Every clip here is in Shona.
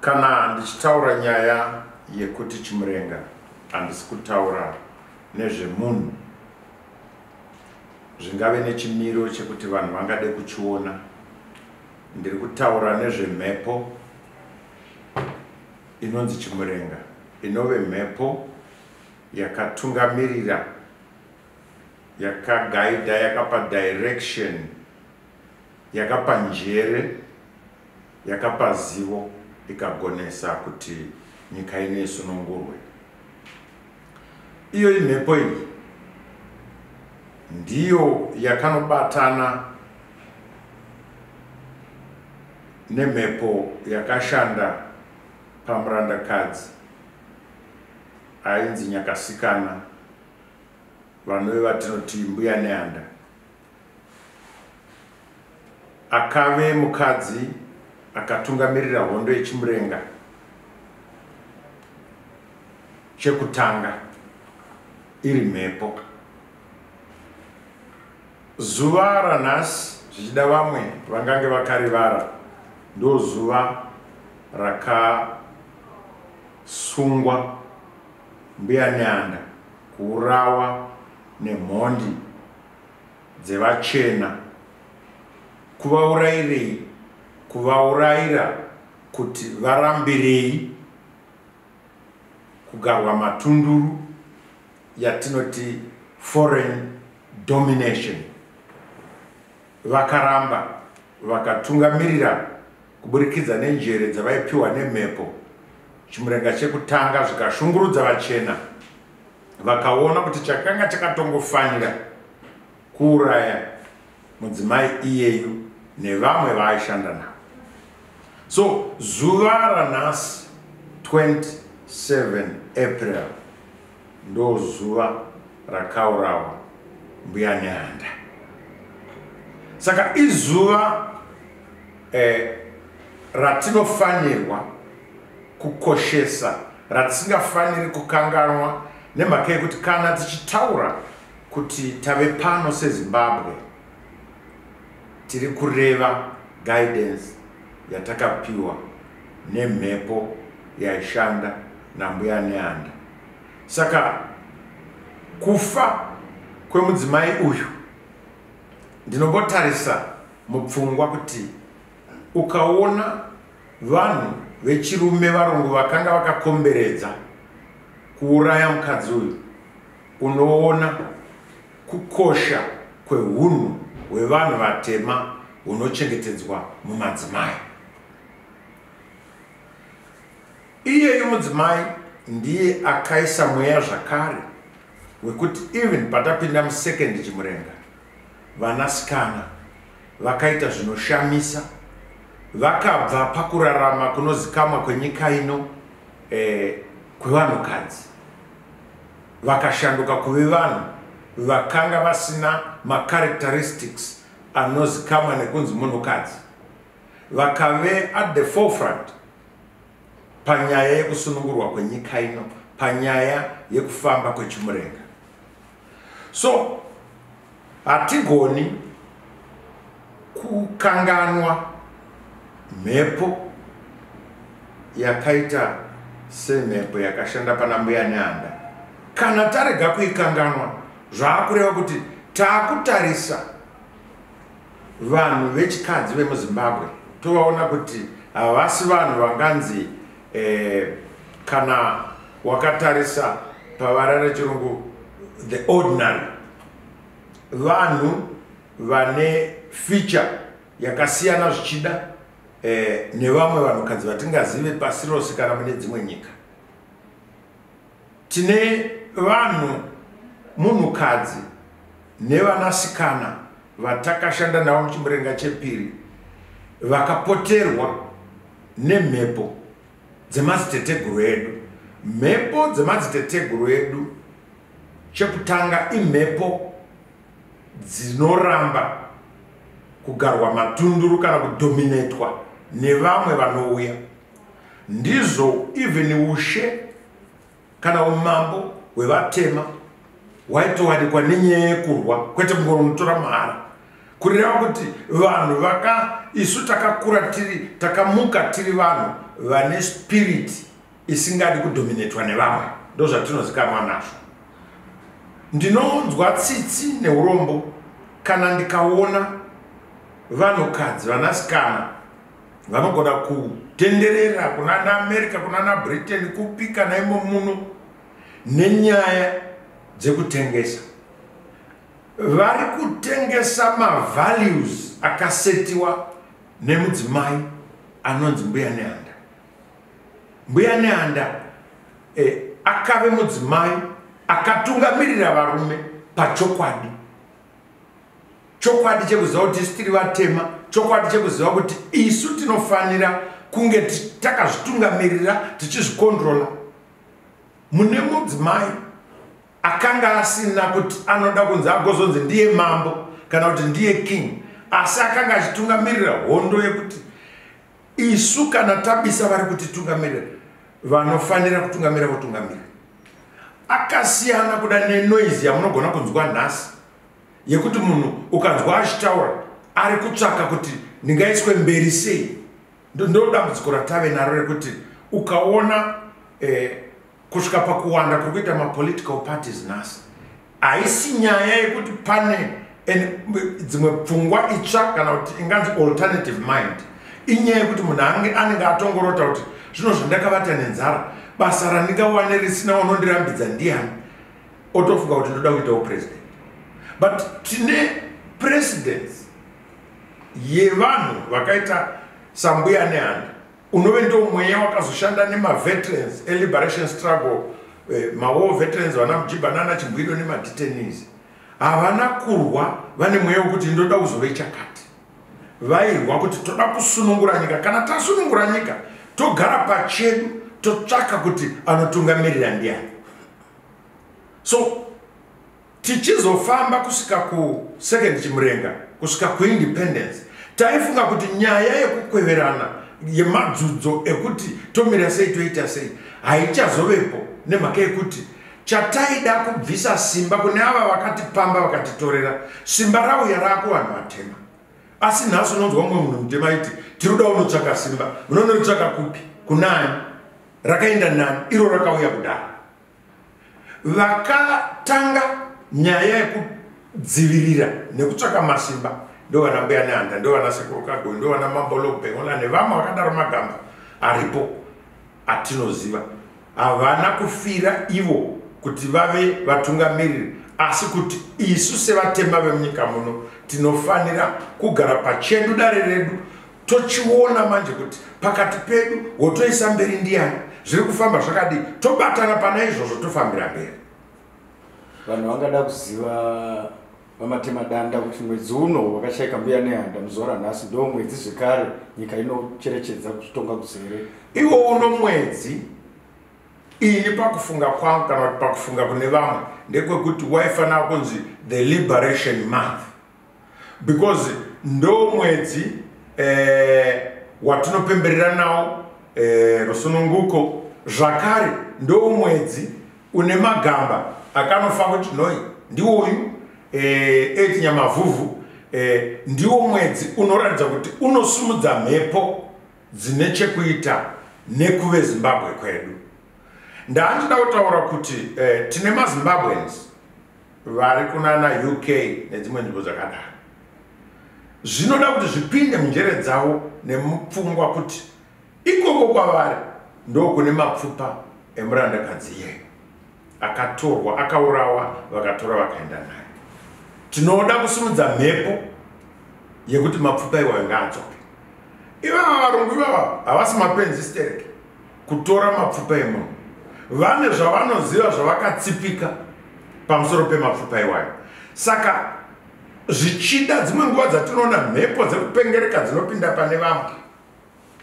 Kana ndichitaura nyaya yekuti Chimurenga handisi kutaura nezvemunhu zvingave nechimiro chekuti vanhu vangade kuchiona ndiri kutaura nezvemhepo inonzi Chimurenga inove mhepo yakatungamirira yakagaida yakapa direction yakapa njere Yakapa zivo ikagonesa kuti nyika ino isunungurwe. Iyoyi mhepo iyi ndiyo yakanobatana nemhepo yakashanda pamurandakadzi ainzi Nyakasikana vanove vatinoti mbuya Neanda. Akave mukadzi akatungamirira hondo yeChimurenga chekutanga iri mhepo. Zuva ranhasi zvichida vamwe vangange vakarivara ndozuva rakasungwa mbuya Nyanda kuurawa nemhondi dzevachena kuvaurairei kuvauraira kuti varambirei kugarwa matunduru yatinoti foreign domination vakaramba vakatungamirira kuburikidza nenjere dzavaipiwa nemhepo chimurenga chekutanga zvikashungurudza vachena vakaona kuti chakanga chakatongofanira kuuraya mudzimai iyeyu nevamwe vaaishanda navo so zuva ranhasi 27 april ndo zuva rakaurawa mbuya neanda saka izuva eh, ratinofanirwa kukoshesa ratisingafaniri kukanganwa nemhaka yekuti kana tichitaura kuti tave pano sezimbabwe tiri kureva guidance yatakapiwa nemhepo yaishanda nambuya neanda saka kufa kwemudzimai uyu ndinombotarisa mupfungwa kuti ukaona Vanhu vechirume varungu vakanga vakakomberedza kuuraya mukadzi uyu. Unoona kukosha kwehunhu hwevanhu vatema hunochengetedzwa mumadzimai. Iyeyu mudzimai ndiye akaisa mweya zvakare wekuti even patapinda musecond chimurenga vanasikana vakaita zvinoshamisa vakabva pakurarama kunozikamwa kwenyika ino eh, kwevanhukadzi vakashanduka kuve vanhu vakanga vasina macharacteristics anozikamwa nekunzi munhukadzi vakave at the forefront panyaya yekusunungurwa kwenyika ino panyaya yekufamba kwechimurenga so hatigoni kukanganwa mhepo yakaita semhepo yakashanda pana mbuya neanda kana tarega kuikanganwa zvaakureva kuti taakutarisa vanhu vechikadzi vemuzimbabwe tovaona kuti havasi vanhu vanganzi eh, kana wakatarisa pavara rechirungu the ordinary vanhu vane feature yakasiyana zvichida eh, nevamwe vanhukadzi vatingazive pasi rose kana mune dzimwe nyika Tine vanhu munhukadzi nevanasikana vatakashanda navo muchimurenga chepiri vakapoterwa nemhepo dzemadziteteguru edu mhepo dzemadziteteguru edu chekutanga imhepo dzinoramba kugarwa matunduru kana kudominetwa nevamwe vanouya ndizvo even ushe kana umambo hwevatema waitowanikwa nenyaya yekurwa kwete kungonotora mahara kureva kuti vanhu vaka isu takakura tiri takamuka tiri vanhu vane spirit isingadi kudominatwa nevamwe ndo zvatinozikanwa nazvo ndinonzwa tsitsi neurombo kana ndikaona vanhukadzi vanasikana vanogona kutenderera kunana america kunana britain kupi kana imo muno nenyaya dzekutengesa vari kutengesa mavalues akasetiwa nemudzimai anonzi mbuya neanda mbuya neanda eh, akave mudzimai akatungamirira varume pachokwadi chokwadi chekuziva kuti isu tiri vatema chokwadi chekuziva kuti isu tinofanira kunge takazvitungamirira tichizvikondrola mune mudzimai akanga asina kuti anoda kunzi agozonzi ndiye mambo kana kuti ndiye king asi akanga achitungamirira hondo yekuti isu kana tabisa vari kuti tungamirira vanofanira kutungamira votungamira akasiyana kuda nenoise yamunogona kunzwa nhasi yekuti munhu ukanzwa achitaura ari kutsvaka kuti ndingaiswe mberi sei ndodambudziko ratave naro rekuti ukaona eh, kusvika pakuwanda kuri kuita mapolitical parties nhasi haisi nyaya yekuti pane dzimwe pfungwa itsva kana kuti inganzi alternative mind inyaya yekuti munhu ange anenge atongorota kuti zvino zvandakavata nenzara basa randingawane risina unondirambidza ndiani otofunga kuti ndoda kuitawo president but tine presidents yevanhu vakaita sambuya nehanda unove ndo mweya wakazoshanda nemaveterans eliberation struggle eh, mawar veterans vana mujiba nana chimbwido nemadetenies havana kurwa vane mweya wekuti ndoda kuzove chakati vairwa kuti toda kusunungura nyika kana tasunungura nyika togara pachedu totsvaka kuti anotungamirira ndiani so Tichizofamba kusvika ku second chimurenga kusvika ku independence taifunga kuti nyaya yekukweverana yemadzudzo ekuti tomira sei toita sei haichazovepo nemhaka yekuti chataida kubvisa simba kune ava vakatipamba vakatitorera simba rauya raakuvanhu vatema asi nhasi unonzwa mumwe munhu mutema aiti tiruda unotsvaka simba unonoritsvaka kupi kunani rakaenda nani iro rakauya kudaro vakatanga nyaya yekudzivirira nekutsvaka masimba ndovana mbuya nehanda ndovana sekuru kagoi ndovana mambolobengola nevamwe vakadaro magamba aripo atinoziva havana kufira ivo kuti vave vatungamiriri asi kuti isu sevatema vemunyika muno tinofanira kugara pachedu dare redu tochiona manje kuti pakati pedu wotoisa mberi ndiyani zviri kufamba zvakadii tobatana pana izvozvo tofambira mberi vanhu vangada kuziva vamatema danda kuti mwedzi uno wakashaika mbuya nehanda muzora nhasi ndo mwedzi zvekare nyika inocherechedza kuzvitonga kuzere iwo uno mwedzi ini pakufunga kwangu kana kuti pakufunga kune vamwe ndekwekuti waifanira kunzi the liberation month because ndo mwedzi eh, watinopemberera nawo eh, rusununguko zvakare ndo mwedzi une magamba akanofa kuti noi ndiwoyu eh, etinyamavhuvhu eh, ndiwo mwedzi unoratidza kuti unosumudza mhepo dzine chekuita nekuve zimbabwe kwedu ndaandida kutaura kuti eh, tine mazimbabweans vari kunana uk nedzimwe nzvimbo dzakadaro zvinoda kuti zvipinde munjere dzavo nemupfungwa kuti ikoko kwavari ndokune mapfupa emurandakadzi iyeyo akatorwa akaurawa vakatora vakaenda naye tinoda kusimudza mhepo yekuti mapfupa iwayo ngaadzoke ivava varungu ivava havasi mapenzi stereki kutora mapfupa emunhu vane zvavanoziva zvavakatsipika pamusoro pemapfupa iwayo saka zvichida dzimwe nguva dzatinoona mhepo dzekupengereka dzinopinda pane vamwe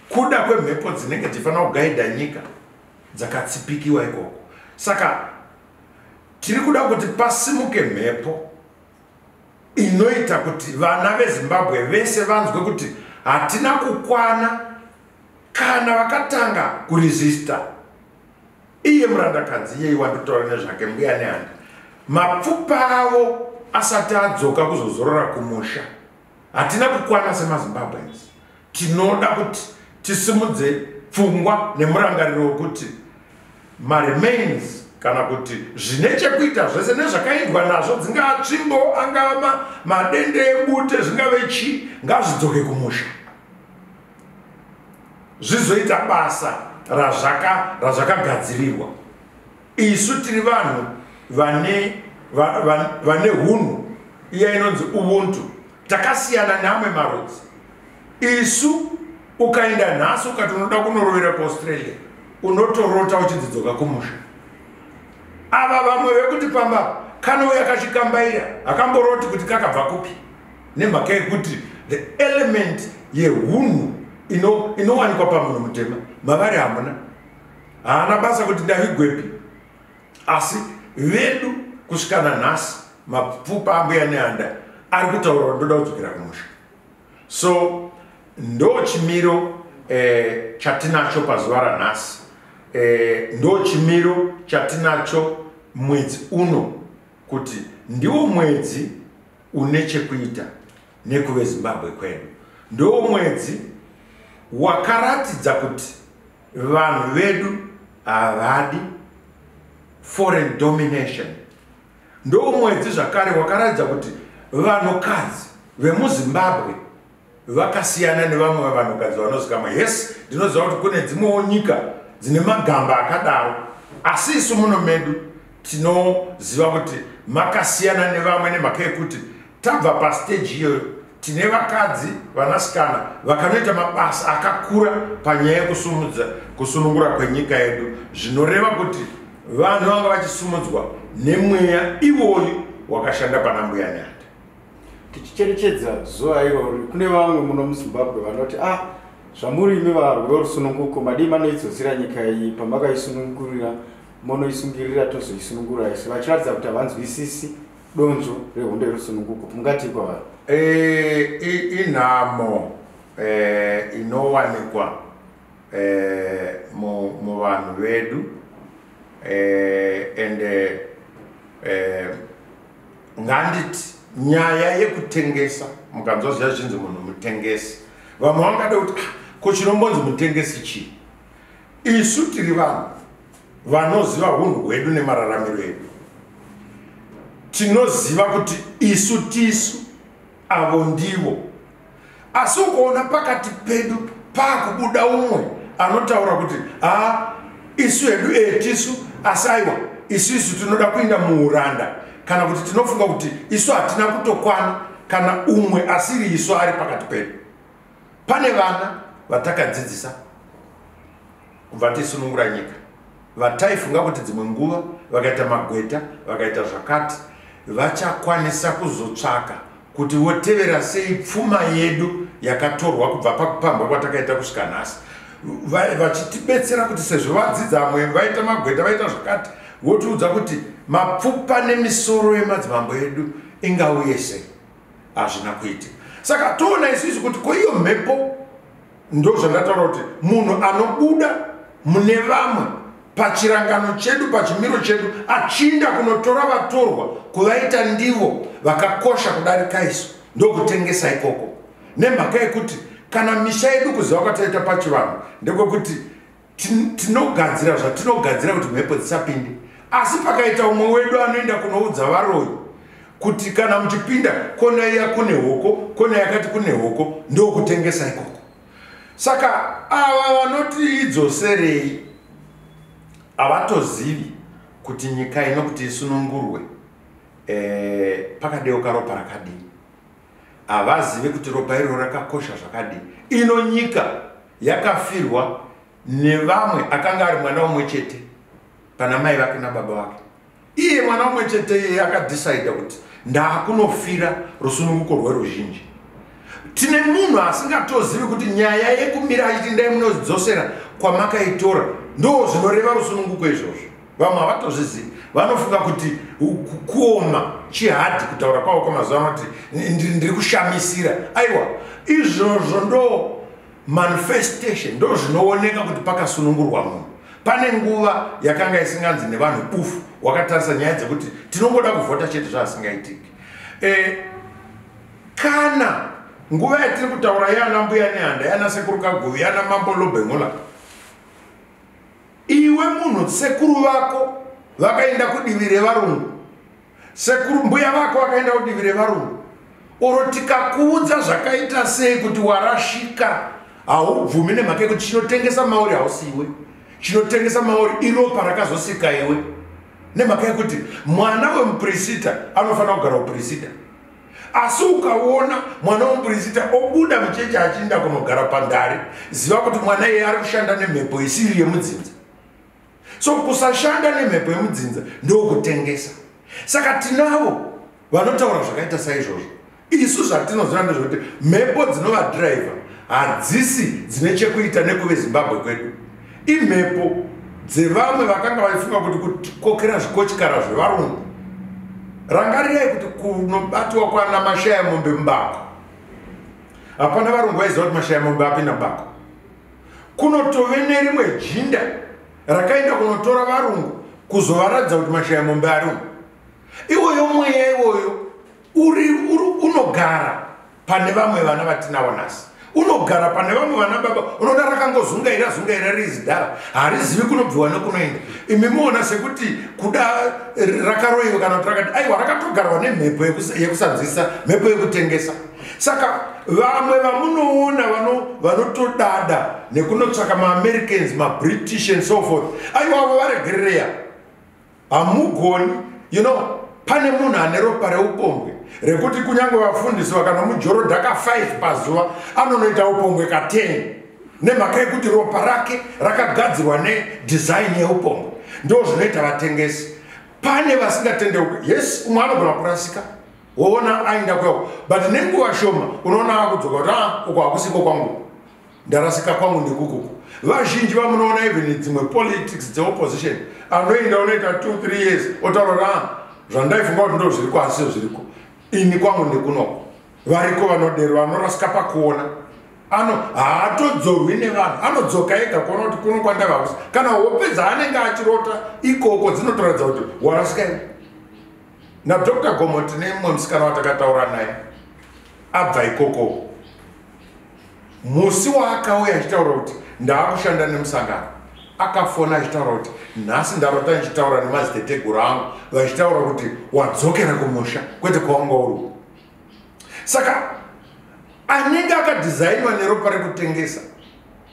kuda kwemhepo dzinenge dzichifanira kugaidha nyika dzakatsipikiwa ikoko saka tiri kuda kuti pasimuke mhepo inoita kuti vana vezimbabwe vese vanzwe kuti hatina kukwana kana vakatanga kuresista iye murandakadzi iyei wandotaura nezvake mbuya nehanda mapfupa avo asati adzoka kuzozorora kumusha hatina kukwana semazimbabweans tinoda kuti tisimudze pfungwa nemurangariro wekuti maremains kana kuti zvine chekuita zvese nezvakaindwa nazvo dzingava tsvimbo angava madende ebute zvingave chii ngazvidzoke kumusha zvizoita basa razvakagadzirirwa isu tiri vanhu vane vane hunhu iya inonzi ubuntu takasiyana neamwe marudzi isu ukaenda nhasi ukati unoda kunorovera kuaustralia unotorota uchidzidzoka kumusha ava vamwe vekuti pamba kanouya kachikambaira hakamboroti kuti kakabva kupi nemhaka yekuti the element yehunhu inowanikwa ino pamunhu mutema mavari hamuna haana basa kuti ndavigwepi asi vedu kusvikana nhasi mapfupa ambuya neanda ari kutaurwa ndoda kudzokera kumusha so ndo chimiro eh, chatinacho pazuva ranhasi eh, ndo chimiro chatinacho mwedzi uno kuti ndiwo mwedzi une chekuita nekuve zimbabwe kwedu ndo mwedzi wakaratidza kuti vanhu vedu havadi foreign domination ndo mwedzi zvakare wakaratidza kuti vanhukadzi vemuzimbabwe vakasiyana nevamwe vavanhukadzi vanozikamwa yes ndinoziva kuti kune dzimwewo nyika dzine magamba akadaro asi isu muno medu tinoziva kuti makasiyana nevamwe nemhaka yekuti tabva pasteji iyoyo tine vakadzi vanasikana vakanoita mabasa akakura panyaya yekusumudza kusunungura kwenyika yedu zvinoreva kuti vanhu vanga vachisumudzwa nemweya iwoyu wakashanda pana mbuya nyaya tichicherechedza zuva irori kune vamwe muno muzimbabwe vanoti ah zvamuri imi varwi vorusununguko madii manoidzosira nyika iyi pamakaisunungurira monoisungirira tozoisunungura isi vachiratidza kuti havanzwisisi donzvo rehondo yerusununguko mungatii kwavari eh, inhamo eh, inowanikwa eh, muvanhu vedu ende nganditi nyaya yekutengesa mukanzwa zviya zvinzi munhu mutengesi vamwe vangada kuti ah, ko chinombonzi mutengesi chii isu tiri vanhu vanoziva hunhu hwedu nemararamiro edu tinoziva kuti isu tisu avo ndivo asi ukaona pakati pedu pakubuda umwe anotaura kuti ha isu hedu etisu asi aiwa isu isu tinoda kuinda muuranda kana kuti tinofunga kuti isu hatina kutokwana kana umwe asiri isu ari pakati pedu pane vana vatakadzidzisa kubva tisunungura nyika vataifunga kuti dzimwe nguva vakaita magweta vakaita zvakati vachakwanisa kuzotsvaka kuti votevera sei pfuma yedu yakatorwa kubva pakupambwa kwatakaita kusvika nhasi vachitibetsera kuti sezvo vadzidza vamwe vaita magweta vaita zvakati votiudza kuti mapfupa nemisoro yemadzimambo edu ingauye sei hazvina kuitika saka toona isisi kuti ko iyo mhepo ndo zvandataura kuti munhu anobuda mune vamwe pachirangano chedu pachimiro chedu achinda kunotora vatorwa kuvaita ndivo vakakosha kudarika isu ndokutengesa ikoko nemhaka yekuti kana misha yedu kuziva kwataita pachivanhu ndekwekuti tinogadzira zvatinogadzira kuti mhepo dzisapinde asi pakaita umwe wedu anoenda kunoudza varoyi kuti kana muchipinda kona iya kune hoko kona yakati kune hoko ndokutengesa ikoko saka ava vanoti idzoserei havatozivi kuti nyika ino kuti isunungurwe e, pakadeuka ropa rakadii havazive kuti ropa iroro rakakosha zvakadii ino nyika yakafirwa nevamwe akanga ari mwana umwe chete pana mai vake nababa vake iye mwana umwe chete iye akadhisaida kuti ndaakunofira rusununguko rweruzhinji tine munhu asingatozivi kuti nyaya yekumira achiti ndai munodzosera kwamakaitora ndo zvinoreva rusununguko izvozvo vamwe havatozvizivi vanofunga kuti kuoma chihadhi kutaura kwavo kwamazuva anoti ndiri kushamisira aiwa izvozvo ndo manifestation ndo zvinooneka kuti pakasunungurwa munhu pane nguva yakanga isinganzi nevanhu bufu wakatarisa nyaya dzekuti tinongoda kuvhota chete zvaasingaitiki e, eh, kana nguva yatiri kutaura yana mbuya nehanda yana sekuru kaguvi yana mambo lobengola iwe munhu sekuru vako vakaenda kudivi revarungu sekuru mbuya vako vakaenda kudivi revarungu oro tikakuudza zvakaita sei kuti warashika haubvumi nemhaka yekuti chinotengesa mauri hausiiwe chinotengesa mauri iropa rakazosika iwe nemhaka yekuti mwana wemupurisita anofanira kugara upurisita asi ukaona mwana womuprista obuda mucheche achiinda kunogara pandare ziva kuti mwana iye ari kushanda nemhepo isiri yemudzinza so kusashanda nemhepo yemudzinza ndokutengesa saka tinavo vanotaura zvakaita saizvozvo isu zvatinoziva ndezvekuti mhepo dzinovadriver hadzisi dzine chekuita nekuve zimbabwe kwedu Imhepo dzevamwe vakanga vaifunga kuti kukokera zvikochikara zvevarungu. Rangarirai kuti kunobatiwa kwana mashaya mombe mubako. Hapana varungu vaiziva kuti mashaya mombe apinda mubako. Kunotove nerimwe jinda rakaenda kunotora varungu kuzovaratidza kuti mashaya mombe ari umu. Iwoyo mweya iwoyo uri unogara pane vamwe vana vatinawo nhasi unogara pane vamwe vana baba unoda rakangozungaira zungaira rizidhara harizivi kunobviwa nekunoenda imi muona sekuti kuda rakaroiwa kana kuti rakati aiwa rakatogarwa nemhepo yekusanzwisa mhepo yekutengesa saka vamwe vamunoona vanotodada nekunotsvaka maamericanz mabritish and so forth aiwavo varegerereya hamugoni you know pane munhu ane ropa reupombwe rekuti kunyange vafundisi vakanomujorodhaka 5 pazuva anonoita upombwe ka 10 nemhaka yekuti ropa rake rakagadzirwa nedesign yeupombwe ndo zvinoita vatengesi pane vasingatendeuke yes umwe anogona kurasika woona aenda kweo but nenguva shoma unoona akudzoka kuti a ah, uko hakusiko kwangu ndarasika kwangu ndikukuku vazhinji vamunoona even dzimwe politics dzeopposition anoenda unoita two three years otaurora ah, zvandaifunga kuti ndo zviriko asi sio zviriko ini kwangu ndikunoko variko vanodero vanorasika pakuona ano haatodzorwi nevanhu anodzoka ega kuona kuti kuno kwandavakusa kana hope dzaanenge achirota ikoko dzinotoratidza kuti warasika ii nadr gomo tine mumwe musikana watakataura naye abva ikokoko musi waakauya achitaura kuti ndaakushanda nemusangano akafona achitaura kuti nhasi ndarota ndichitaura nemaziteteguru angu vachitaura kuti wadzokera kumusha kwete kwawanga uri saka anenge akadhizainwa neropa rekutengesa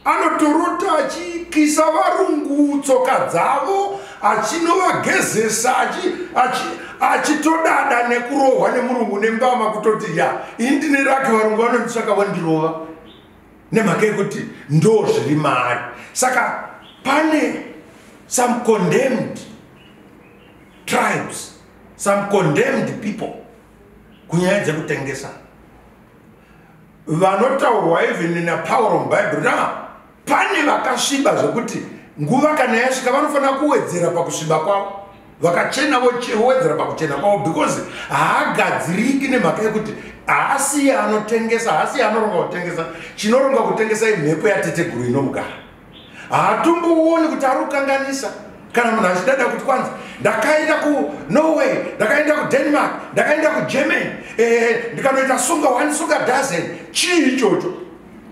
anotorota achikisa varungu tsoka dzavo achinovagezesa achitodada achi, achi nekurohwa nemurungu nembama kutoti ya ini ndine rake varungu vanondisaka vandirova nemhaka yekuti ndo zviri maari saka pane some condemned tribes some condemned people kunyaya dzekutengesa vanotaurwa even in a power of bible now pane vakasviba zvekuti nguva kana yasvika vanofanira kuwedzera pakusviba kwavo vakachena vowedzera pakuchena kwavo because haagadziriki nemhaka yekuti haasiye anotengesa haasiye anoronga kutengesa chinoronga kutengesa imhepo yateteguru inomugara haatombouoni kuti ari kukanganisa kana munhu achidada kuti kwanzi ndakaenda kunorway ndakaenda kudenmark ndakaenda kugermany eh, ndikanoita sunga one sunga dozen chii ichocho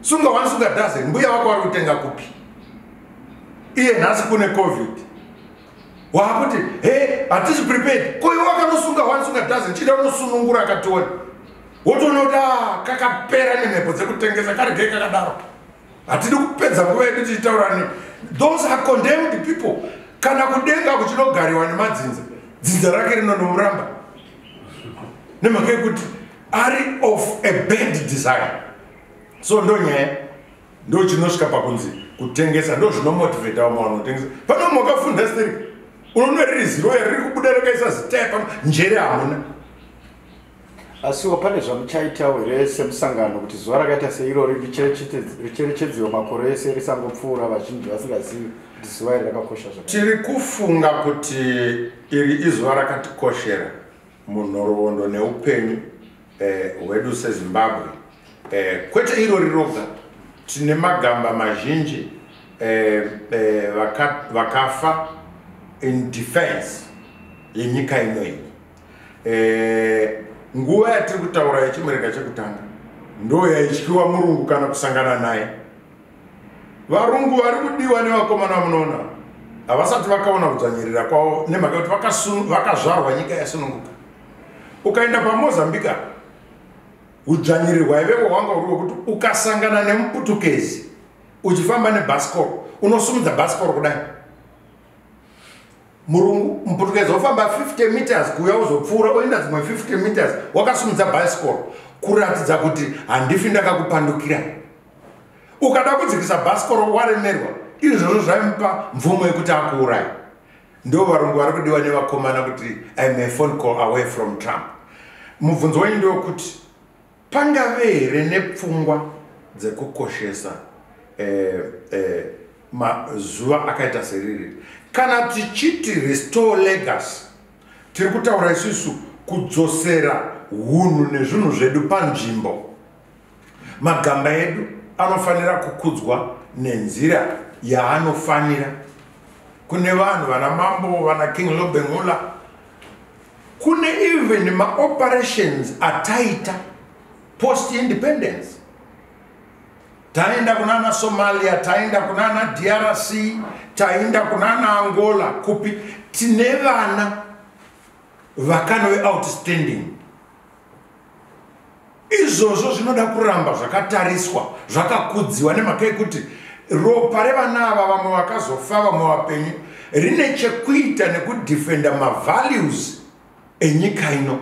sunga wani sunga daze mbuya wako wari kutenga kupi iye nhasi kune covid waakuti he hatisi prepared koiwe wakanosunga wani sunga daze chida unosunungura akationa wotonoda ah, kakapera nemhepo dzekutengesa karegei kakadaro hatidi kupedza nguva yedu tichitaurani those are condemned people kana kudenga kuchinogariwa nemadzinza dzinza rake rinonomuramba nemhaka yekuti ari of a bad design so ndo nyaya ndo chinosvika pakunzi kutengesa ndo zvinomotivata vamwe vanhu kutengesa pane vamwe wakafunda siri unoona riri ziroya riri kubuda rakaisa zitaya pano njere hamuna asiwo pane zvamuchaitawo here semusangano kuti zuva rakaita seirori richerechedzewo makore ese risangopfuura vazhinji vasingazivi kuti zuva iri rakakosha zvaka tiri kufunga kuti iri izuva rakatikoshera munhoroondo neupenyu eh, hwedu eh, sezimbabwe eh, kwete irori roga tine magamba mazhinji eh, eh, vakafa in defense yenyika ino iyi eh, nguva yatiri kutaura yechimurega chekutanga ndo yaityiwa murungu kana kusangana naye varungu vari kudiwa nevakomana munoona havasati vakaona kudzvanyirira kwavo nemhaka kuti vakazvarwa nyika yasununguka ukaenda pamozambique apa udzvanyirirwa ivevo wanga uri wekuti ukasangana nemuputukezi uchifamba nebhasikoro unosumudza bhasikoro kudai murungu muputukezi wofamba 50 meters kuuya uzopfuura oenda dzimwe 50 meters wakasumudza bhasikoro kuratidza kuti handifi ndakakupandukira ukada kudzikisa bhasikoro waremerwa izvozvo zvaimupa mvumo yekuti akuurai ndo varungu vari kudiwa nevakomana kuti im a phone call away from trump mubvunzo wenyu ndewekuti pangave here nepfungwa dzekukoshesa eh, eh, mazuva akaita seriri kana tichiti restore legacy tiri kutaura isusu kudzosera hunhu nezvinhu zvedu panzvimbo Magamba edu anofanira kukudzwa nenzira yaanofanira. Kune vanhu vana mambo vana King Lobengula kune even ma operations ataita post independence taenda kunana Somalia taenda kunana DRC taenda kunana Angola kupi tine vana vakanove outstanding izvozvo zvinoda kuramba zvakatariswa zvakakudziwa nemhaka yekuti ropa revana ava vamwe vakazofa vamwe vapenyu rine chekuita nekudefenda mavalues enyika ino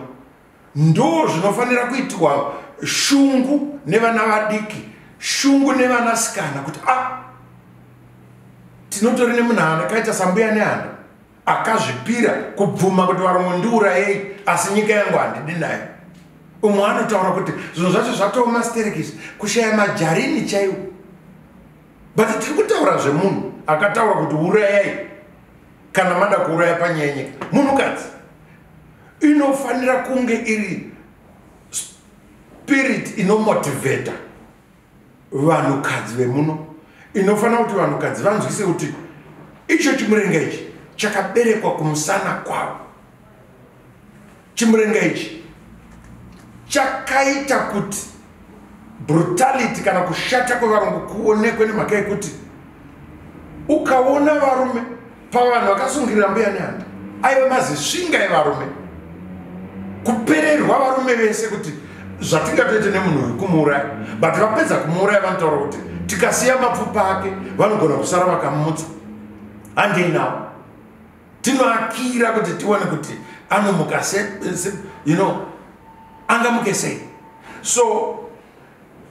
ndo zvinofanira kuitwa shungu nevana vadiki shungu nevana sikana kuti a ah, tinotori nemunhu ana kaita sambuya nehana akazvipira kubvuma kuti varungu ndiurayei asi nyika yangu handidi nayo umwe anotaura kuti zvinhu zvacho zvatooma sterekisi kushaya majarini chaiwo but tiri kutaura zvemunhu akataura kuti urayai kana mada kuuraya panyaya nyika munhukadzi inofanira kunge iri spirit inomotivheta vanhukadzi vemuno inofanira kuti vanhukadzi vanzwise kuti icho chimurenga ichi chakaberekwa kumusana kwavo chimurenga ichi chakaita kuti brutality kana kushata kwevarungu kuonekwe nemhaka yekuti ukaona varume pavanhu vakasungirira mbuya nehanda aive mazisvinga evarume kupererwa varume vese kuti zvatingatoite nemunhu uyu kumuuraya but vapedza kumuuraya vanotaura kuti tikasiya mapfupa ake vanogona kusara vakamutsa handei navo tinoakira kuti tione kuti anomuka se, se, you know angamuke sei so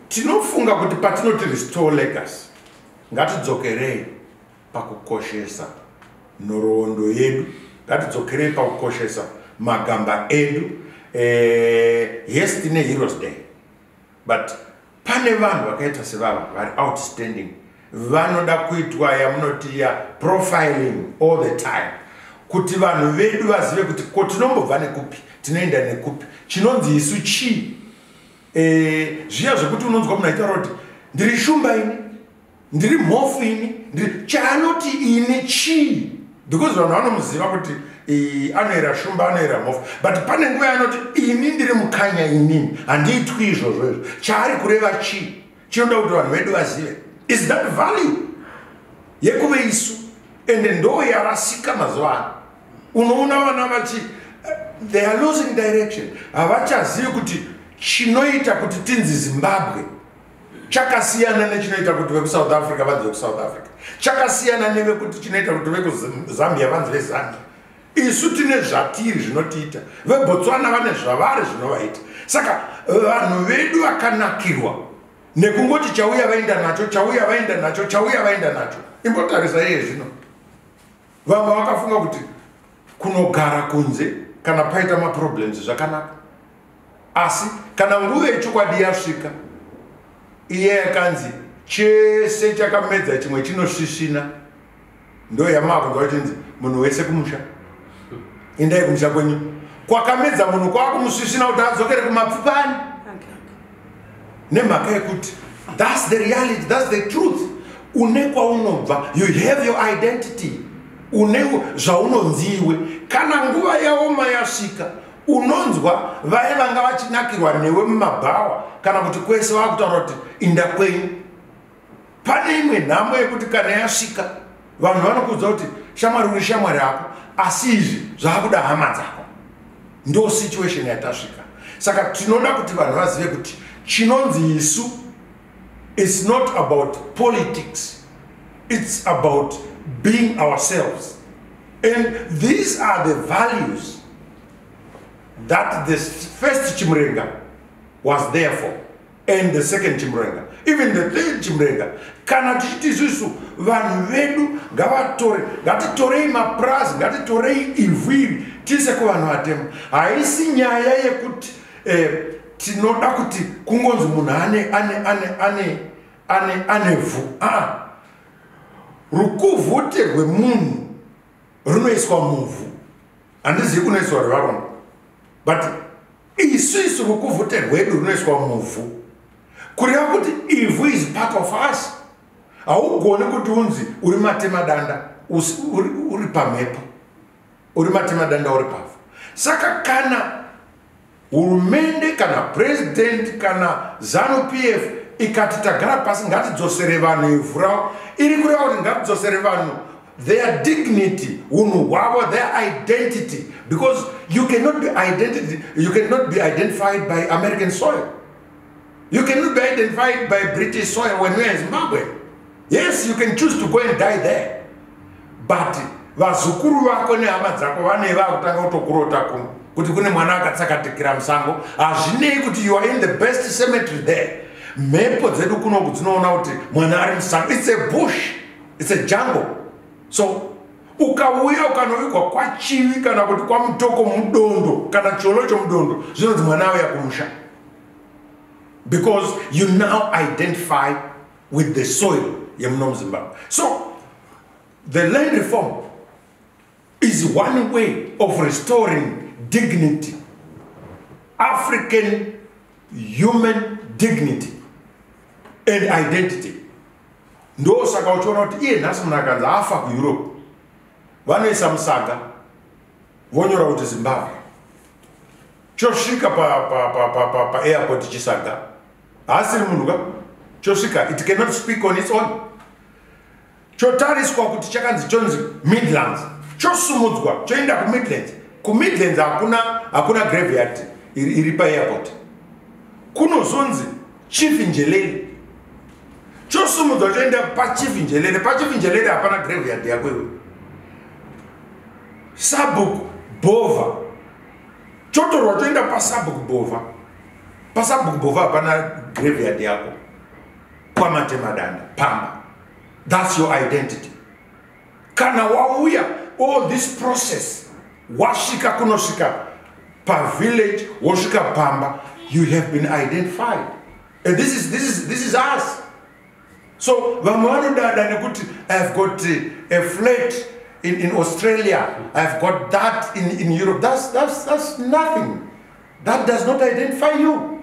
tinofunga kuti patinoti restore legacy ngatidzokerei pakukoshesa nhoroondo yedu ngatidzokerei pakukoshesa magamba edu eh, yes tine heroes day but pane vanhu vakaita sevava vari outstanding vanoda kuitwa yamunoti ya profiling all the time kuti vanhu vedu vazive kuti ko tinombobva nekupi tinoenda nekupi chinonzi isu chii e, zviya zvekuti unonzwa munhu aita roti ndiri shumba ini ndiri mhofu ini ndiri chaanoti ini chii because vanhu vanomuziva kuti anoera shumba anoera mhofu but pane nguva yanoti ini ndiri mukanya inini handiitwi izvozvo izvo chaari kureva chii chinoda kuti vanhu vedu vazive is that value yekuve isu ende ndoo yarasika mazuva ano unoona vana vachi eh, they are losing direction havachazivi kuti chinoita kuti tinzi zimbabwe chakasiyana nechinoita kuti vekusouth africa vanzi vekusouth africa chakasiyana nevekuti chinoita kuti vekuzambia vanzi vezambia isu tine zvatiri zvinotiita vebotswana vane zvavari zvinovaita saka vanhu vedu vakanakirwa nekungoti chauya vaenda nacho chauya vaenda nacho chauya vaenda nacho imbotarisa iye zvino vamwe vakafunga kuti kunogara kunze kana paita maproblems zvakanaka asi kana nguva yechokwadi yasvika iye yakanzi chese chakamedza chimwe chinosvisvina ndo yamaakunzwa vachinzi munhu wese kumusha endai kumusha kwenyu kwakamedza munhu kwakumusvisvina kuti adzokere kumapfupani nemhaka yekuti thats the reality thats the truth une kwaunobva you have your identity une zvaunonzi iwe kana nguva yaoma yasvika unonzwa vaye vanga vachinakirwa newe mumabhawa kana kuti kwese vakutaura kuti inda kwenyu pane imwe nhamo yekuti kana yasvika vanhu vanokuudza kuti shamwari uri shamwari yako asi izvi zvakuda hama dzako ndo situation yatasvika saka tinoda kuti vanhu vazive kuti chinonzi isu its not about politics its about being ourselves and these are the values that the first chimurenga was there for and the second chimrenga even the third chimrenga kana tichiti isusu vanhu vedu ngavatore ngatitorei mapurazi ngatitorei ivhu iri tiise kuvanhu vatema haisi nyaya yekuti eh, tinoda kuti kungonzi munhu ane ane ane ane ane ane vhu aa rukuvhute rwemunhu runoiswa muvhu handizivi kunoiswa rwevarume but isu isu rukuvhute rwedu runoiswa muvhu kureva kuti ivhu is part of us haugoni kuti unzi uri matemadanda uri pamhepo uri matemadanda uri pavhu saka kana hurumende kana purezidenti kana zanu p f ikati tagara pasi ngatidzosere vanhu ivhu ravo iri kureva kuti ngatidzosere vanhu their dignity unhu hwavo their identity because you cannot be identity you cannot be identified by american soil you cannot be identified by british soil when weare in zimbabwe yes you can choose to go and die there but vazukuru vako nehama dzako vane vakutanga kutokurota kuno kuti kune mwana akatsakatikira musango hazvinei kuti you are in the best cemetery there mhepo dzedu kunoku dzinoona kuti mwana ari musango its a bush its a jungle so ukauya ukanovigwa kwachivi kana kuti kwamutoko mudondo kana cholo chomudondo zvinonzi mwana auya kumusha because you now identify with the soil yemuno muzimbabwe so the land reform is one way of restoring dignity african human dignity and identity ndo saka uchiona kuti iye nhasi munhu akanzi afa kueurope vanoisa musaga vonyora kuti zimbabwe chosvika paairport chisaga haasiri munhu ka chosvika it cannot speak on its own chotariswa kuti chakanzi chonzi midlands chosumudzwa choenda kumidlands kumidlands hakuna hakuna graveyard iri paairport kunozonzi chief njeleli chosumudzwa choenda pachief njelele pachief njelele hapana graveyard yako iwe sabuk bova chotorwa choenda pasabuk bova pasabuk bova hapana graveyard yako kwamatemadanda pamba That's your identity. Kana wauya all this process wasvika kunosvika pavillage wosvika pamba you have been identified and this is, this is, this is us so vamwe vanodada nekuti ihave got a flat in, in australia ihave got that in, in europe that's, that's, that's nothing that does not identify you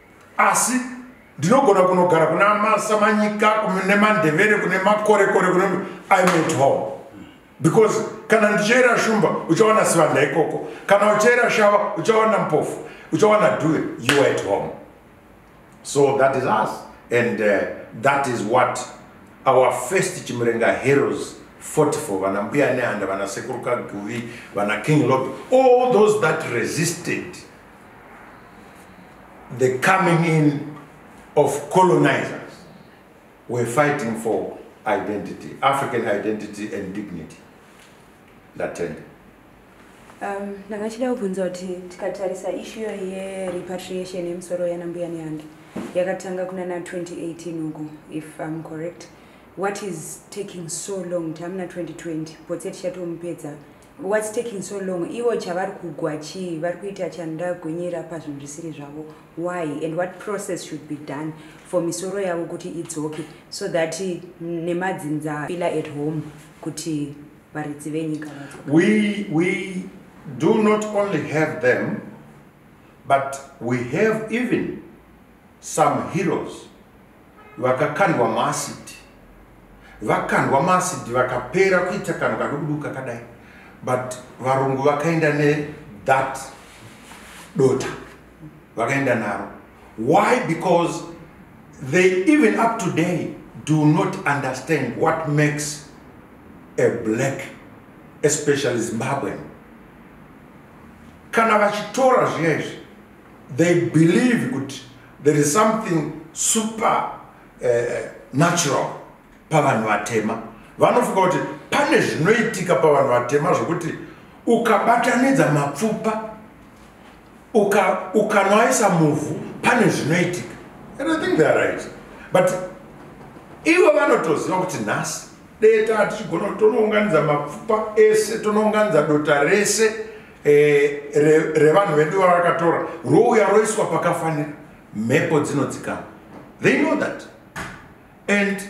asi ndinogona kunogara kuna masamanyika kune mandevere kune makorekore kune i met home because kana ndichaera shumba uchawana sivanda ikoko kana uchaera shava uchawana mpofu uchawana due you at home so that is us and uh, that is what our first chimurenga heroes fought for vana mbuya nehanda vana sekuruka guvi vana king lob all those that resisted the coming in of colonizers were fighting for identity, African identity and dignity. Ndatenda. Um, ndanga chida kubvunza kuti tikatarisa ishu iyoyi yerepatriation yemusoro yanambuya nehange yakatanga kuna na 2018 uku if im correct what is taking so long tamuna 2020 potse tichatomupedza What's taking so long? Ivo chavari kugwa chii? Vari kuita chanda gonyera pazvinhu zvisiri zvavo. Why? And what process should be done for misoro yavo kuti idzoke so that nemadzinza feel at home kuti varidzi venyika vadzoka. We we do not only have them but we have even Some heroes vakakandwa maacid vakandwa maacid vakapera kuita kanhu kadukuduku kakadai but varungu vakaenda ne that dota vakaenda naro why because they even up today do not understand what makes a black especially zimbabwean kana vachitora zviya izvi they believe kuti there is something super uh, natural pavanhu vatema vanofunga kuti pane zvinoitika pavanhu vatema zvokuti ukabatanidza mapfupa ukanoaisa uka muvhu pane zvinoitika and i think theyare right but ivo vanotoziva kuti nhasi deta tichigona kuti tonounganidza mapfupa ese tonounganidza dota rese eh, revanhu vedu vavakatora rouya roiswa pakafanira mhepo dzinodzikama they know that and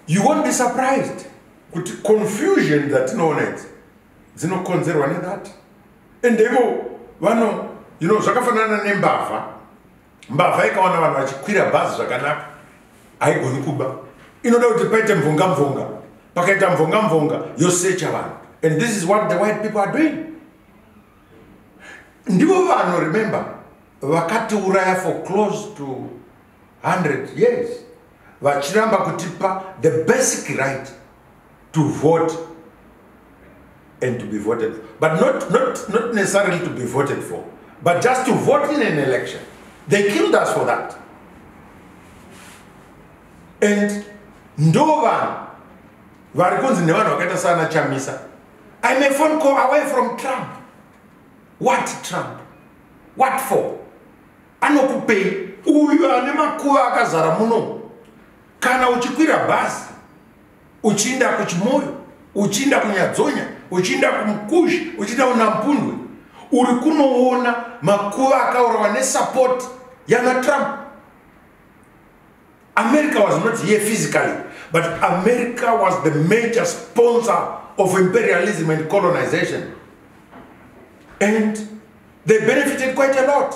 you won't be surprised kuti confusion dzatinoona idzi dzinokonzerwa nedhati and ivo vano you know zvakafanana nembavha mbavha ikawana vanhu vachikwira bhazi zvakanaka haigoni kuba inoda kuti paite mvonga mvonga pakaita mvonga mvonga yosecha vanhu and this is what the white people are doing ndivo vanhu remember vakatiuraya for close to 100 years vachiramba kutipa the basic right to vote and to be voted for. But not, not, not necessarily to be voted for, but just to vote in an election. They killed us for that. And ndo vanhu vari kunzi nevanhu vakaita saana chamisa i'm a phone call away from trump what trump what for anokupei uyu ane makuva akazara muno kana uchikwira bhazi uchiinda kuchimoyo uchiinda kunyadzonya uchiinda kumukuzhi uchiinda kunampundwe uri kunoona makuva akaurawa nesapoti yana trump america was not here physically but america was the major sponsor of imperialism and colonization and they benefited quite a lot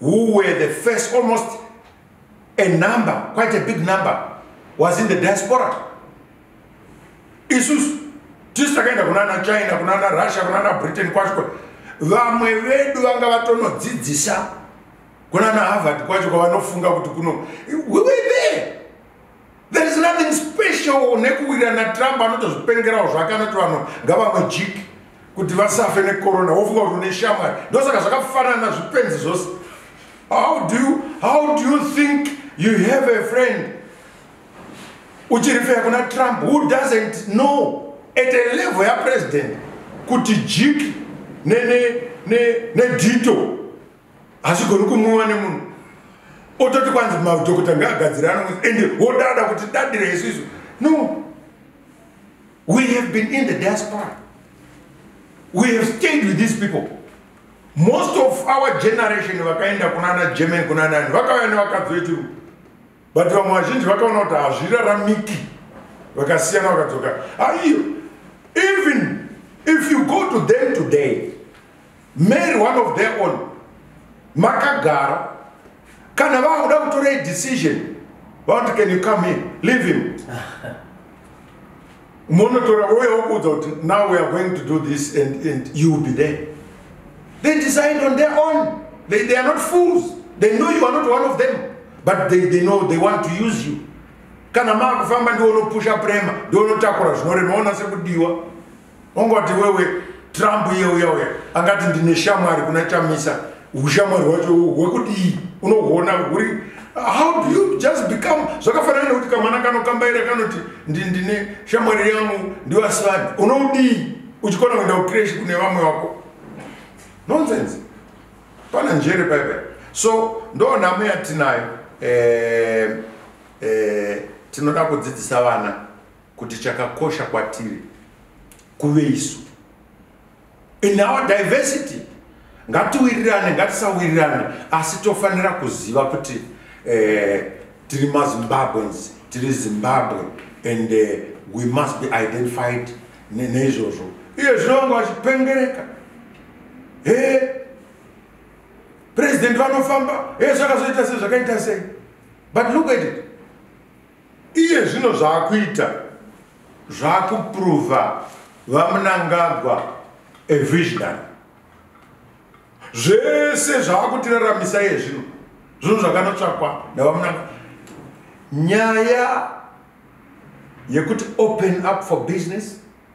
who were the first almost a number quite a big number was in the diaspora isusu tisu takaenda kunana china kunana russia kunana britain kwacho vamwe vedu vanga vatonodzidzisa kunana harvard kwacho kwavanofunga kuti kuno we were there there is nothing special nekuwira natrump anoita zvipengerawo zvake anoti vanhu ngavamwe jiki kuti vasafe necorona wofunga kuti une shamwari ndosaka zvakafanana zvipenzi zvose how do you, how do you think you have a friend uchirifeya kuna trump who doesn't know at a level yapresident kuti jiki nedito ne, ne, ne hazvigoni kumwiwa nemunhu ototi kwanzi madhokota ngaagadzire ano ende wodada kuti dadire isu isu no we have been in the diaspora we have stayed with these people most of our generation vakaenda kunana german kunanani vakauya nevakadzi vechiru but vamwe vazhinji vakaona kuti hazviraramiki vakasiyana vakadzoka aiyo even if you go to them today Mary one of their own makagara kana vakuda kutora idecision vanoti can you come here leave him monotora uye wokuudza kuti now we are going to do this and, and you will be there they decide on their own they, they are not fools they know you are not one of them but they, they know they want to use you kana maakufamba ndiwo unopusha prema ndiwo unotakura zvinorema ona sekudiwa ongoti wewe trump iye uya uya angati ndine shamwari kuna chamisa ushamwari hwacho hwekudii unohuona huri how do you just become zvakafanana nekuti kamwana kanokambaira kanoti ndine shamwari yangu ndivasivani unoudii uchikona kuenda kucresh kune vamwe vako nonsense pana njere paipai so ndo nhamo yatinayo eh, eh, tinoda kudzidzisa vana kuti chakakosha kwatiri kuve isu in our diversity ngatiwirirane ngatisawirirane asi tofanira kuziva kuti eh, tiri mazimbabweans tiri zimbabwe and eh, we must be identified neizvozvo iye zvinonge vachipengereka he president vanofamba he zvakazoita sei zvakaita sei but look at it iye zvino zvaakuita zvaakuprova vamunangagwa evisionary zvese zvaakutiraramisa iye zvino zvinhu zvakanotsvakwa navamunanga nyaya yekuti open up for business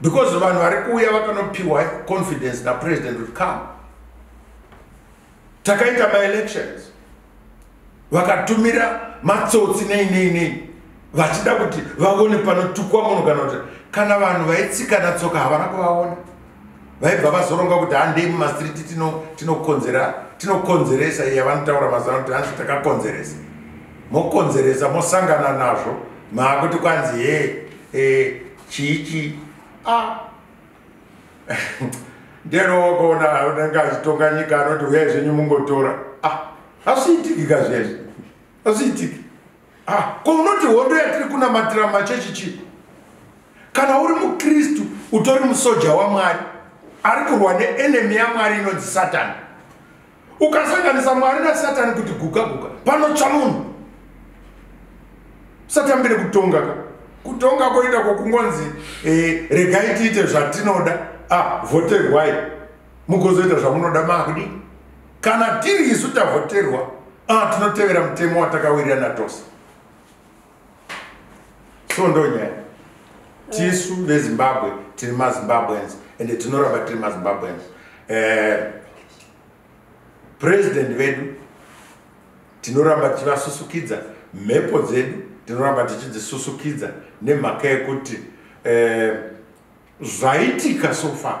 because vanhu vari kuuya vakanopiwa confidence napresident kuti come takaita maelections vakatumira matsotsi nei nei nei vachida kuti vaone panotukwa munhu kana kuti kana vanhu vaitsikana tsoka havana kuvaona vaibva vazoronga kuti handei mumastreet tinokonzera tinokonzeresa iya vanotaura mazana kuti hanzi takakonzeresa mokonzeresa mosangana nazvo maakuti kwanzi he e, chichi a ndenowokaona unenge achitonga nyika anoti huyai zvenyu mungotora a hazviitikika zvezvi hazviitiki ah, ko unoti hondo yatiri kunamatira mumachechi chii kana uri mukristu utori musoja wamwari ari kurwa neenemi yamwari inonzi satani ukasanganisa mwari nasatani kuti guka guka panotsva munhu satambire kutonga ka kutonga koita kwokungonzi eh, regai tiite zvatinoda ah, voterwai mugozoita zvamunoda makudi kana tiri isu tavhoterwa ah, tinotevera mutemo watakawirirana tose so ndonyaya tisu vezimbabwe tiri mazimbabweans ende tinoramba tiri mazimbabweans eh, president vedu tinoramba tichivasusukidza mhepo dzedu tinoramba tichidzisusukidza nemhaka yekuti eh, zvaitika so far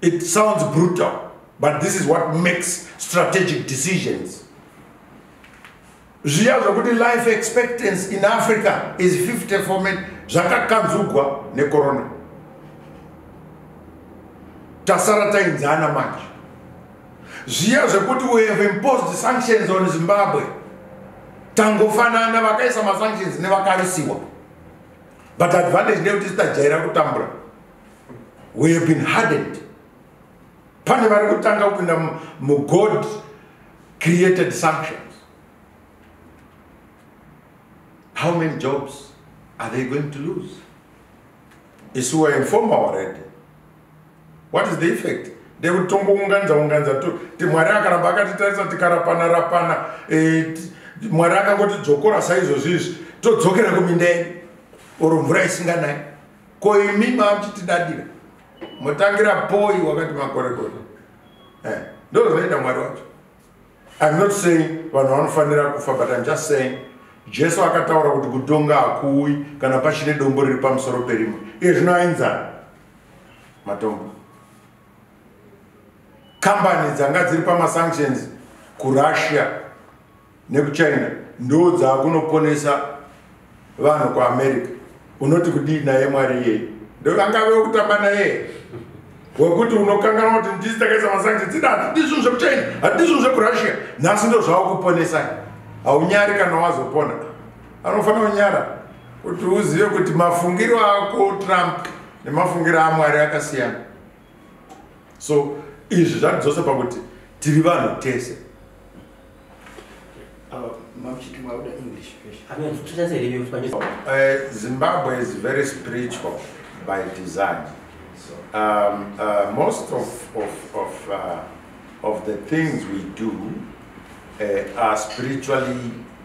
It sounds brutal, but this is what makes strategic decisions. zviya zvokuti life expectance in africa is 50 fomen zvakakanzugwa nekorona tasara tainzana manje zviya zvekuti we have imposed sanctions on zimbabwe tangofanana vakaisa masanctions nevakarisiwa but advantage ndeyekuti sitajaira kutambura we have been hardened pane vari kutanga kupinda mugod created sanctions how many jobs are they going to lose isu wainforma already what is the effect ndekuti tongounganidza unganidza ti mwari akaramba akatitarisa tikarapana rapana eh, mwari akangoti dzokora saizvozvi izvi todzokera kuminda yedu oro mvura isinganai ko imi mamuchitidadira motangira poi wakati makorekore eh, ndo zvinoita mwari wacho im not saying vanhu vanofanira kufa but im just saying jesu akataura kuti kutonga hakuwi kana pachine dombo riri pamusoro perimwe iye zvino ainzana matombo kambani dzanga dziri pamasanctions kurussia nekuchina ndo dzaakunoponesa vanhu kuamerica unoti kudii naye mwari iyeye ndovangave wekutamba naye wekuti unokanganwa kuti ndisi takaisa masanctions dzida hatidi zvinhu zvekuchina hatidi zvinhu zvekurussia nhasi ndo zvaakuponesai haunyari kana wazopona anofanira kunyara kuti uzive kuti mafungiro ako trump nemafungiro amwari akasiyana so izvi zvatidzose pakuti tiri vanhu tese eh, zimbabwe is very spiritual by design um, uh, most of, of, of, uh, of the things we do uh, are spiritually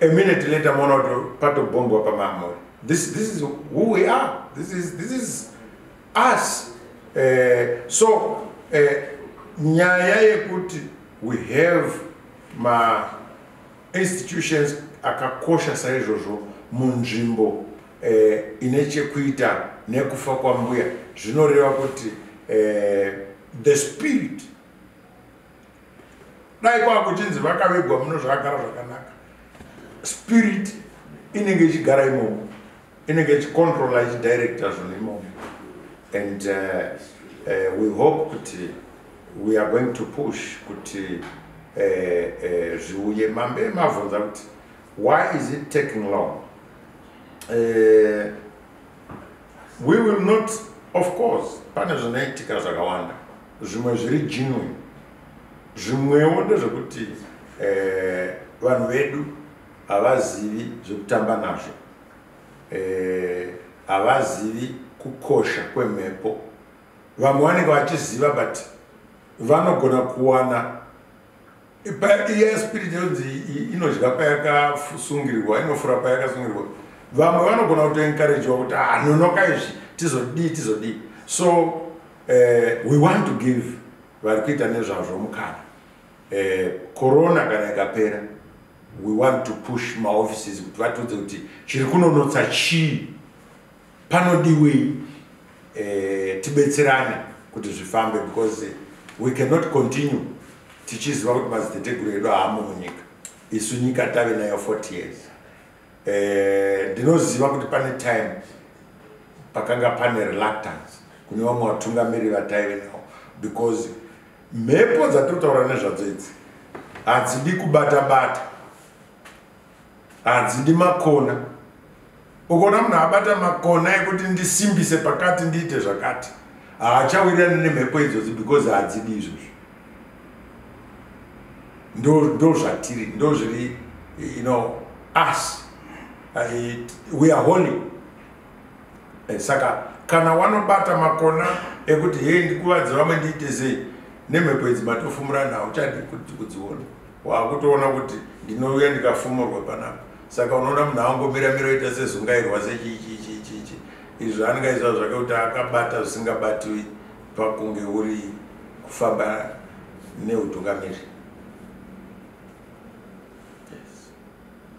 a minute later moona kuti patobhombwa pamamuri this, this is who we are this is, this is us uh, so uh, nyaya yekuti we have ma institutions akakosha saizvozvo munzvimbo eh, ine chekuita nekufa kwambuya zvinoreva kuti eh, the spirit dai kwakuchinzi vakavigwa muno zvakagara zvakanaka spirit inenge ichigara imomo inenge ichicontrola ichidirecta zvinhu imomo and uh, uh, we hope kuti we are going to push kuti uh, uh, zviuye mambe mavhunza kuti why is it taking long uh, we will not of course pane zvinoitika zvakawanda zvimwe zviri genuine zvimwewo ndezvekuti eh, vanhu vedu havazivi zvekutamba nazvo eh, havazivi eh, kukosha kwemhepo vamwe vanenge vachiziva but vanogona kuwana Iya spirit yonzi inodya payakasungirwa, inofura payakasungirwa. Vamwe vanogona kuto encouragewa kuti ah nonoka izvi tizodii tizodii. So eh, we want to give vari kuita nezvazvo mukana. Eh, corona kana ikapera we want to push maoffices kuti vatiudze kuti chiri kunonotsa chii Panodiwei eh, tibetserane kuti zvifambe because we cannot continue tichiziva kuti madziteteguru edu haamo munyika isu nyika tave nayo 40 years eh, ndinoziva kuti pane time pakanga pane reluctance kune vamwe vatungamiri vataive nawo because mhepo dzatotaura nezvadzo idzi hadzidi kubata bata hanzi ndimakona ukaona munhu abata makona ekuti ndisimbise pakati ndiite zvakati haachawirirani nemhepo idzozi because hadzidi izvozvo ndozvatiri ndo zviri you know us it, we are holy eh, saka kana wanobata makona ekuti hei ndikuvadzi vamwe ndiite sei nemhepo idzi matofumurana hauchadi kudziona wakutoona kuti ndinouya ndikafumurwa panapa saka unoona munhu awangomira mira oita sezungairwa sechichichichichi izvi zvaanenge aizva zvake kuti akabata zvisingabatiwi pakunge uri kufamba neutungamiri